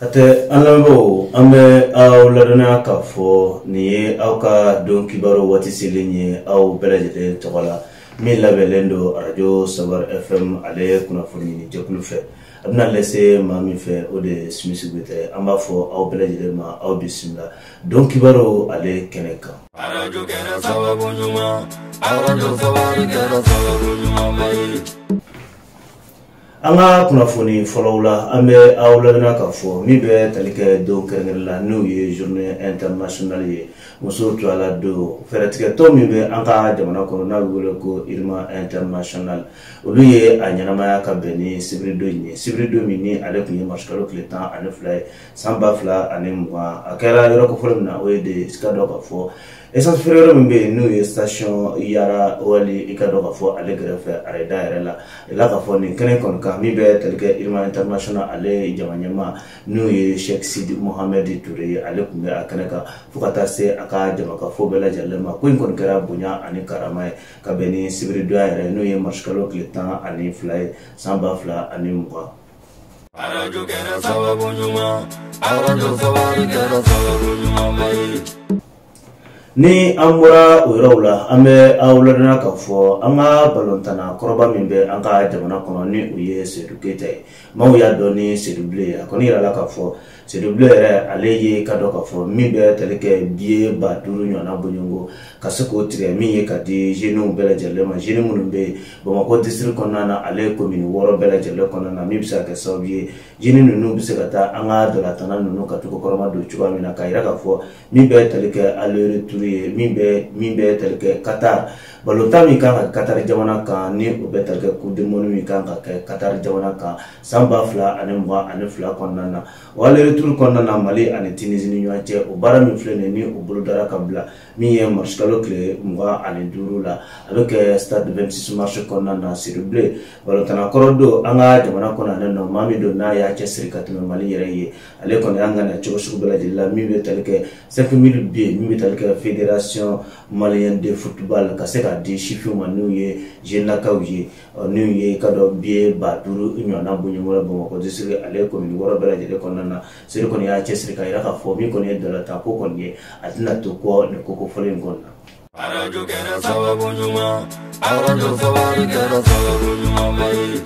hatɛ an lamɛnbaaw an bɛ aw ladɔnniya k'a fɔ nin ye aw ka don kibaru waati selen ye aw bɛɛ lajɛlen tɔgɔ la min labɛnlen don arajo sabar fm ale kunnafoni ɲini jɛkulu fɛ a bɛna lase maa min fɛ o de ye simisi goyita ye an b'a fɔ aw bɛɛ lajɛlen ma aw bisimila don kibaru ale kɛnɛ kan arajo kɛra sababu ɲuman arajo sabar kɛra sababu ɲumanba ye an ka kunnafoni fɔlɔw la an bɛ aw ladɔnniya k'a fɔ min bɛ tali kɛ don kɛrɛnkɛrɛn la n'o ye journée internationale ye musow tɔgɔla don fɛɛrɛtigɛtɔn min bɛ an ka jamana kɔnɔ n'a bɛ wele ko irma international olu ye a ɲɛnamaya ka bɛn ni sibiridon in ye sibiridon min ni ale tun ye marisikalo tile tan ani fila ye san ba fila ani mugan a kɛra yɔrɔ kofɔlen min na o ye de i k'a dɔn k'a fɔ essence feere yɔrɔ min bɛ yen n'o ye station yara oil i k'a dɔn k'a fɔ ale kɛrɛfɛ railda yɛrɛ la yirala k'a fɔ nin kɛnɛ kɔni kan min bɛ tali kɛ irima international ale jama ɲɛmaa n'o ye sheikh sidi mohammed ture ye ale tun bɛ a kɛnɛ kan fo ka taa se a ka jamakafo bɛɛ lajɛlen ma ko in kɔni kɛra bonya ani karama ye ka bɛn ni sibiridon in yɛrɛ n'o ye marisikalo tile tan ani fila ye san ba fila ani mugan arajo kɛra sababu ɲuman arajo sabari kɛra sababu ɲumanba ye Ni an bɔra o yɔrɔw la an bɛ aw ladɔnniya k'a fɔ an ka balontanna kɔrɔba min bɛ an ka jamana kɔnɔ ni o ye sedu keyita ye maaw y'a dɔn ni sedublen ye a kɔni yirala k'a fɔ sedublen yɛrɛ ale ye i k'a dɔn k'a fɔ min bɛ tali kɛ biye ba duuru ɲɔgɔnna bɔɲɔgɔnko ka se k'o tigɛ min ye k'a di zɛniw bɛɛ lajɛlen ma zɛni minnu bɛ bamakɔ disiri kɔnɔna na ale komini wɔɔrɔ bɛɛ lajɛlen kɔnɔna na min bɛ se ka kɛ sababu ye zɛni ninnu bɛ se ka taa an ka ntolatanna ninnu ka t'u kɔkɔrɔmadon cogoya min na k'a yira k'a fɔ min bɛ tali kɛ aller retour ye min bɛ min bɛ tali kɛ katari balontan min kan ka katari jamana kan ni o bɛ tali kɛ coupe du monde min kan ka kɛ katari jamana kan san ba fila ani mugan ani fila kɔnɔna na o aller retour kɔnɔna na mali ani tinizi ni ɲɔgɔn cɛ o baara min filɛ nin ye ni o bolodara ka bila min ye marisikalo tile mugan ani duuru la a bɛ kɛ stade 26 mars kɔnɔna na sedublen balontanna kɔrɔ don an ka jamana kɔnɔ ale nɔ maa min don n'a y'a cɛsiri ka tɛmɛ mali yɛrɛ ye ale kɔni an kana cogo sugu bɛɛ lajɛlen la min bɛ tali kɛ cinq mille billets min bɛ tali kɛ fédération malien de football ka se k'a di sifinw ma n'u ye jennakaw ye n'o ye i k'a dɔn biye ba duuru ɲɔgɔnna bɔɲɔgɔnko bamakɔ disiri ale komini wɔɔrɔ bɛɛ lajɛlen kɔnɔna na sedu kɔni y'a cɛsiri k'a yira k'a fɔ min kɔni ye ntolatan ko kɔni ye a tɛna to kɔ nin ko kofɔlen in kɔni na arajo kɛra sababu ɲuman arajo sabari kɛra sababu ɲumanba ye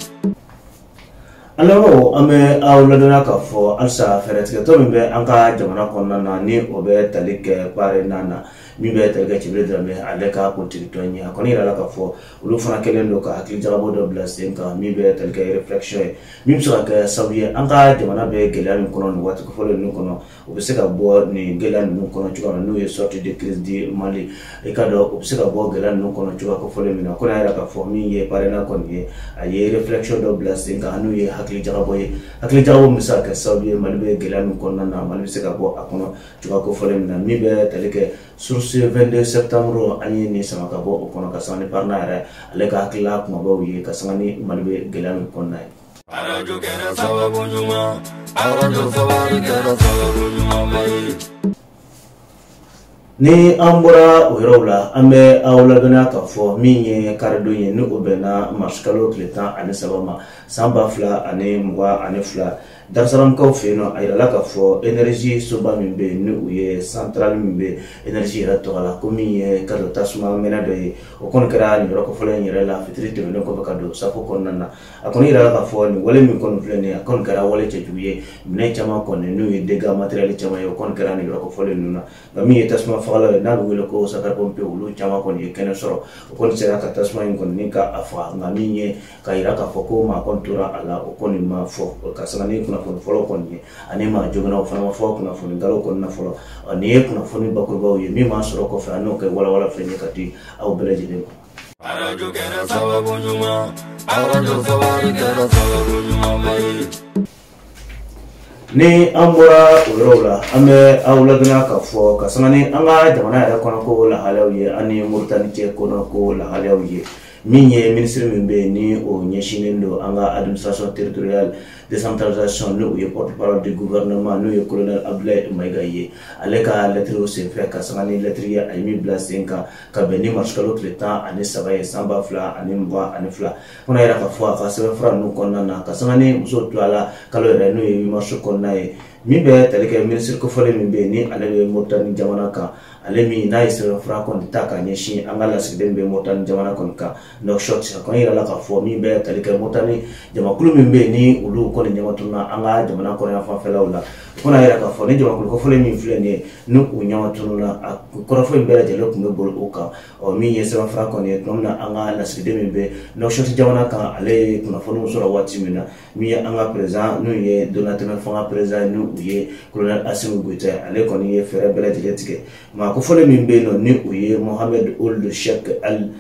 an lamɛnbaaw an bɛ aw ladɔnniya k'a fɔ halisa fɛɛrɛtigɛtɔn min bɛ an ka jamana kɔnɔna na ni o bɛ tali kɛ parena na min bɛ tali kɛ cɛbilen dramɛ ale ka politiki tɔn ye a kɔni yirala k'a fɔ olu fana kɛlen don ka hakili jagabɔ dɔ bila sen kan min bɛ tali kɛ réflexion ye min bɛ se ka kɛ sababu ye an ka jamana bɛ gɛlɛya min kɔnɔ nin waati kofɔlen ninnu kɔnɔ o bɛ se ka bɔ nin gɛlɛya ninnu kɔnɔ cogoya min na n'o ye sortie de crise du Mali i k'a dɔn o bɛ se ka bɔ gɛlɛya ninnu kɔnɔ cogoya kofɔlen min na ko n'a yɛrɛ k'a fɔ min ye parena kɔni ye a ye réflexion dɔ bila sen kan n'o ye hakili jagabɔ ye hakili jagabɔ min bɛ se ka kɛ sababu ye Mali bɛ gɛlɛya min kɔnɔna na Mali bɛ se ka bɔ a kɔnɔ cogoya kofɔlen min na min bɛ tali kɛ Source 22 septembre an ye nin sama ka bɔ o kɔnɔ ka sanga ni parena yɛrɛ ale ka hakilila kumabaw ye ka sanga ni mali bɛ gɛlɛya min kɔnɔna ye arajo kɛra sababu ɲuman arajo sabari kɛra sababu ɲumanba ye ni an bɔra o yɔrɔw la an bɛ aw ladɔnniya k'a fɔ min ye karidon ye ni o bɛnna marisikalo tile tan ani saba ma san ba fila ani mugan ani fila Darusalamkaw fɛ yen nɔ a yirala k'a fɔ energie soba min bɛ yen ni o ye centrale min bɛ energie yɛrɛ tɔgɔ la ko min ye ka don tasuma mɛnɛ dɔ ye o kɔni kɛra nin yɔrɔ kofɔlen in yɛrɛ la fitiri tɛmɛnen kɔfɛ ka don safo kɔnɔna na a kɔni yirala k'a fɔ nin wale min kɔni filɛ nin ye a kɔni kɛra wale cɛjugu ye minɛn caman kɔni n'o ye dégâts matériels caman ye o kɔni kɛra nin yɔrɔ kofɔlen ninnu na nka min ye tasuma fagalaw ye n'a bɛ wele ko sapeurs pompiers olu caman kɔni ye kɛnɛ sɔrɔ u kɔni sera ka tasuma in kɔni ka a faga nka min ye ka yira k'a fɔ ko maa kɔni tora a la o kɔni ma fɔ ka sanga ni kunnafoni fɔlɔw kɔni ye ani maa joginnaw fana ma fɔ kunnafoni galew kɔni na fɔlɔ nin ye kunnafoni bakurubaw ye min b'a sɔrɔ kɔfɛ an n'o kɛ walawala filɛ ye ka di aw bɛɛ lajɛlen ma arajo kɛra sababu ɲuman arajo sababu kɛra sababu ɲuman ba ye ni an bɔra o yɔrɔw la an bɛ aw ladɔnniya k'a fɔ ka sanga ni an ka jamana yɛrɛ kɔnɔ ko lahalayaw ye an ni moritani cɛ kɔnɔ ko lahalayaw ye min ye minisiri min bɛ yen ni o ɲɛsinnen don an ka administration territoriale décentralisation ni o ye porte parole du gouvernement n'o ye colonel abdulayi mayiga ye ale ka lɛtiriw senfɛ ka sanga ni lɛtiri ye a ye min bila sen kan ka bɛn ni marisi kalo tile tan ani saba ye san ba fila ani mugan ani fila kɔnɔ yɛrɛ k'a fɔ a ka sɛbɛn fura ninnu kɔnɔna na ka sanga ni muso tɔgɔla kalo yɛrɛ n'o ye 8 mars kɔnɔna ye min bɛ tali kɛ minisiri kofɔlen min bɛ yen ni ale bɛ moritani jamana kan ale min n'a ye sɛbɛn fura kɔni ta ka ɲɛsin an ka lasigiden bɛ moritani jamana kɔni kan nuwakisɔti sakɔn yɛrɛ la k'a fɔ min bɛ tali kɛ moritani jamakulu min bɛ yen ni olu kɔni ɲɛmatununna an ka jamana kɔnɔyan fanfɛlaw la fo n'a yɛrɛ k'a fɔ ni jamakulu kofɔlen min filɛ nin ye ni u ɲɛmatununna a kɔrɔfɔ in bɛɛ lajɛlen tun bɛ boli o kan ɔ min ye sɛbɛnfura kɔni ye tuma min na an ka lasigiden min bɛ nuwakisɔti jamana kan ale ye kunnafoniw sɔrɔ waati min na min ye an ka perezan n'o ye donatɛmɛ fanga perezan ni o ye kolonɛli asimi goyita ye ale kɔni ye fɛɛrɛ bɛɛ lajɛlen tigɛ maa kofɔlen min bɛ yen nɔ ni o ye mohamɛd uld shɛk ɛli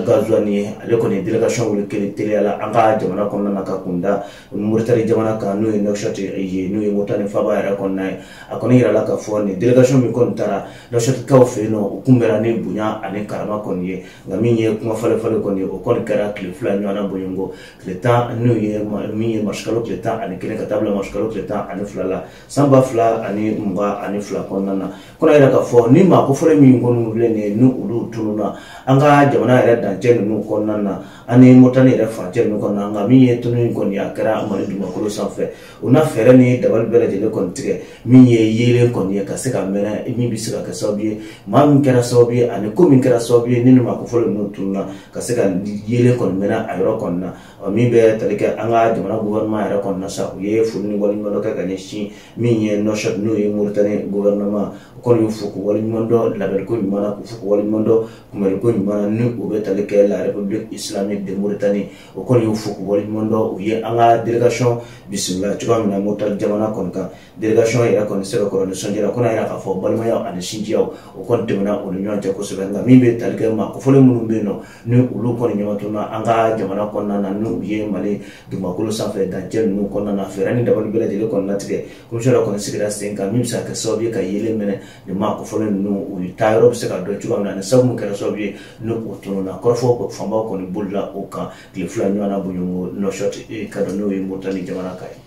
gazuwani ye ale kɔni ye delegation wuli kelen teliya la an ka jamana kɔnɔna na ka kunda moritani jamana kan n'o ye nuwakisɔti ye n'o ye moritani faaba yɛrɛ kɔnɔna ye a kɔni yirala k'a fɔ nin delegation min kɔni taara Lasɛlikɛlaw fɛ yen nɔ u kunbɛnna ni bonya ani karama kɔni ye nka min ye kuma falen falen kɔni ye o kɔni kɛra tile fila ɲɔgɔnna bɔɲɔgɔnko tile tan n'o ye min ye marisikalo tile tan ani kelen ka taa bila marisikalo tile tan ani fila la san ba fila ani mugan ani fila kɔnɔna na kɔnɔ yɛrɛ k'a fɔ ni maa kofɔlen min kɔni filɛ nin ye ni olu tununna an ka jamana yɛrɛ dancɛ ninnu kɔnɔna na ani moritani yɛrɛ dancɛ ninnu kɔnɔna nka min ye tunu in kɔni a kɛra mali dugumakolo sanfɛ u na fɛɛrɛ ni dabali bɛɛ lajɛlen kɔni tigɛ min ye yeelen kɔni ye ka se ka mɛnɛ min bɛ se ka kɛ sababu ye maa min kɛra sababu ye ani ko min kɛra sababu ye ni nin maa kofɔlen ninnu tununna ka se ka yeelen kɔni mɛnɛ a yɔrɔ kɔni na ɔ min bɛ tali kɛ an ka jamana gouvernement yɛrɛ kɔni na sa u ye foli ni waleɲuman dɔn kɛ ka ɲɛsin min ye nouakchott n'o ye moritani gouvernement u kɔni y'u fo k'u waleɲuman dɔn labɛnliko ɲuman na k'u fo k'u waleɲuman dɔn kunbɛnliko ɲuman na ni u bɛ tali kɛ la république islamique de mauritanie o kɔni y'u fo k'u waleɲuman dɔn u ye an ka delegation bisimila cogoya min na moritani jamana kɔni kan delegation yɛrɛ kɔni sɛbɛkɔrɔ nisɔndiyara ko n'a yɛrɛ k'a fɔ balimayaw ani sinjiyaw o kɔni tɛmɛna u ni ɲɔgɔn cɛ kosɛbɛ nka min bɛ tali kɛ maa kofɔlen minnu bɛ yen nɔ ni olu kɔni ɲɔgɔn tununna an ka jamana kɔnɔna na n'o ye mali dugumakolo sanfɛ dancɛ ninnu kɔnɔna na fɛɛrɛ ni dabali bɛɛ lajɛlen kɔni latigɛ komisiyɔn dɔ kɔni sigira sen kan min bɛ se ka kɛ sababu ye ka yeelen mɛnɛ nin maa kofɔlen ninnu u ye taa yɔrɔ bɛ se ka dɔn cogoya min na ni sabu kɛra sababu ye ni u tununna kɔrɔfɔ fanbaw kɔni bolila o kan tile fila ɲɔgɔn na bɔɲɔgɔnko nouakchott eh, ka dɔn n'o ye moritani jamana kan ye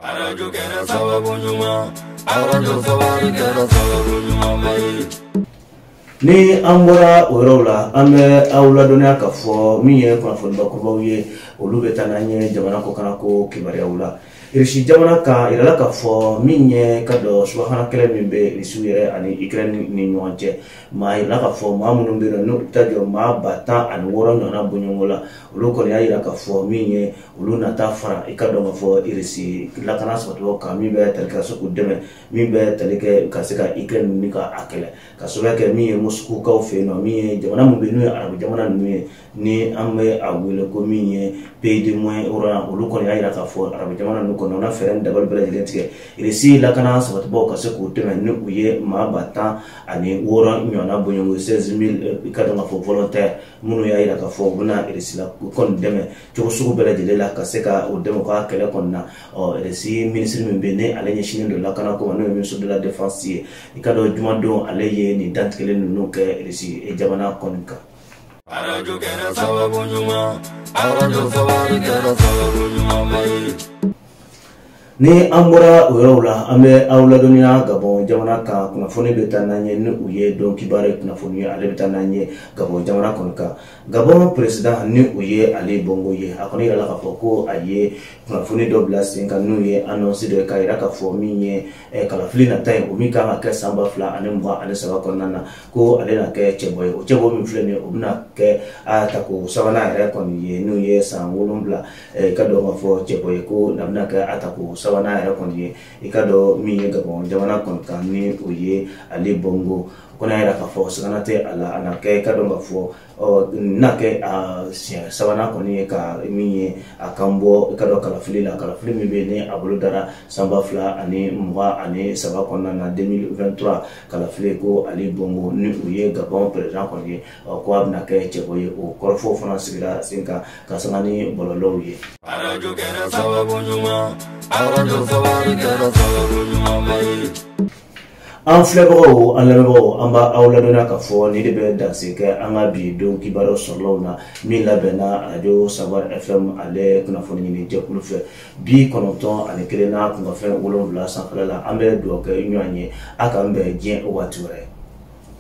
arajo kɛra sababu ɲuman arajo sabari kɛra sababu ɲuman ba ye ni an bɔra o yɔrɔw la an bɛ aw ladɔnniya ka fɔ min ye kunnafonibakurubaw ye olu bɛ taa n'an ye jamana kɔkannako kibaruyaw la irisi jamana kan yirala k'a fɔ min ye ka dɔn subahana kɛlɛ min bɛ irisiw yɛrɛ ani ikirɛn ni ɲɔgɔn cɛ a yirala k'a fɔ maa minnu bɛ yen n'u bɛ taa jɔ maa ba tan ani wɔɔrɔ ɲɔgɔnna bɔɲɔgɔnko la olu kɔni y'a yira k'a fɔ min ye olu na taa fara i ka dɔn k'a fɔ irisi lakana sabatibagaw kan min bɛ tali ka se k'u dɛmɛ min bɛ tali kɛ ka se ka ikirɛn ni ka a kɛlɛ ka sababuya kɛ min ye mɔsikukaw fɛ yen nɔ min ye jamana min bɛ yen n'o ye arabu jamana ninnu ye ni an bɛ a wele ko min ye pays de moyen orient olu kɔni y'a jira k'a fɔ arabu jamana ninnu kɔnɔ na fɛɛrɛ ni dabali bɛɛ lajɛlen tigɛ irisi lakana sabatibaaw ka se k'u dɛmɛ ni o ye maa ba tan ani wɔɔrɔ ɲɔgɔnna bɔɲɔgɔnko 16000 i ka dɔn k'a fɔ volontaire minnu y'a jira k'a fɔ u bɛna irisi la kɔni dɛmɛ cogo sugu bɛɛ lajɛlen la ka se ka u dɛmɛ ka kɛlɛ kɔni na ɔ irisi minisiri min bɛ yen ale ɲɛsinnen don lakana ko ma n'o ye ministre de la défense ye i ka dɔn jumadon ale ye nin dantigɛli ninnu kɛ irisi jamana kɔni kan arajo kɛra sababu ɲuman arajo sabari kɛra sababu ɲuman ba ye ni an bɔra o yɔrɔw la an bɛ aw ladɔnniya gabɔn jamana kan kunnafoni bɛ taa n'an ye ni o ye don kibaru ye kunnafoni ye ale bɛ taa n'an ye gabɔn jamana kɔni kan gabɔn peresidan ni o ye ali bongo ye a kɔni yirala k'a fɔ ko a ye kunnafoni dɔ bila sen kan n'o ye anɔnsi dɔ ye k'a yira k'a fɔ min ye Eh, kalafili nata ye o min kan ka kɛ san ba fila ani mugan ani saba kɔnɔna na ko ale na kɛ cɛbɔ ye o cɛbɔ min filɛ nin ye o bɛna kɛ a tako sabanan yɛrɛ kɔni ye n'o ye san wolonwula eh, i k'a dɔn k'a fɔ cɛbɔ ye ko a bɛna kɛ a tako sabanan yɛrɛ kɔni ye i k'a dɔn min ye gabɔn jamana kɔni kan ni o ye ali bongo o kɔni y'a jira k'a fɔ sigana tɛ a la a na kɛ i k'a dɔn k'a fɔ ɔ na kɛ a siɲɛ sabanan kɔni ye ka min ye a kan bɔ i k'a dɔn kalafili la kalafili min bɛ ni a bolodara san ba fila ani mugan ani saba kɔnɔna na 2023 kalafili ko ali bongo ni o ye gabɔn perezidan kɔni ye ɔ ko a bɛna kɛ cɛbɔ ye o kɔrɔfɔw fana sigira sen kan ka sanga ni bɔlɔlɔw ye arajo kɛra sababu ɲuman arajo sababu kɛra sababu ɲuman ba ye an filɛbagaw an lamɛnbagaw an b'aw ladɔnniya k'a fɔ nin de bɛ danse kɛ an ka bi don kibaruyaw sɔrɔlaw na min labɛnna arajo sabar fm ale kunnafoni ɲini jɛkulu fɛ bi kɔnɔntɔn ani kelen n'a kunkanfɛn wolonwula sanfɛla la an bɛ dugawu kɛ ɲɔgɔn ye a k'an bɛn diɲɛ waati wɛrɛ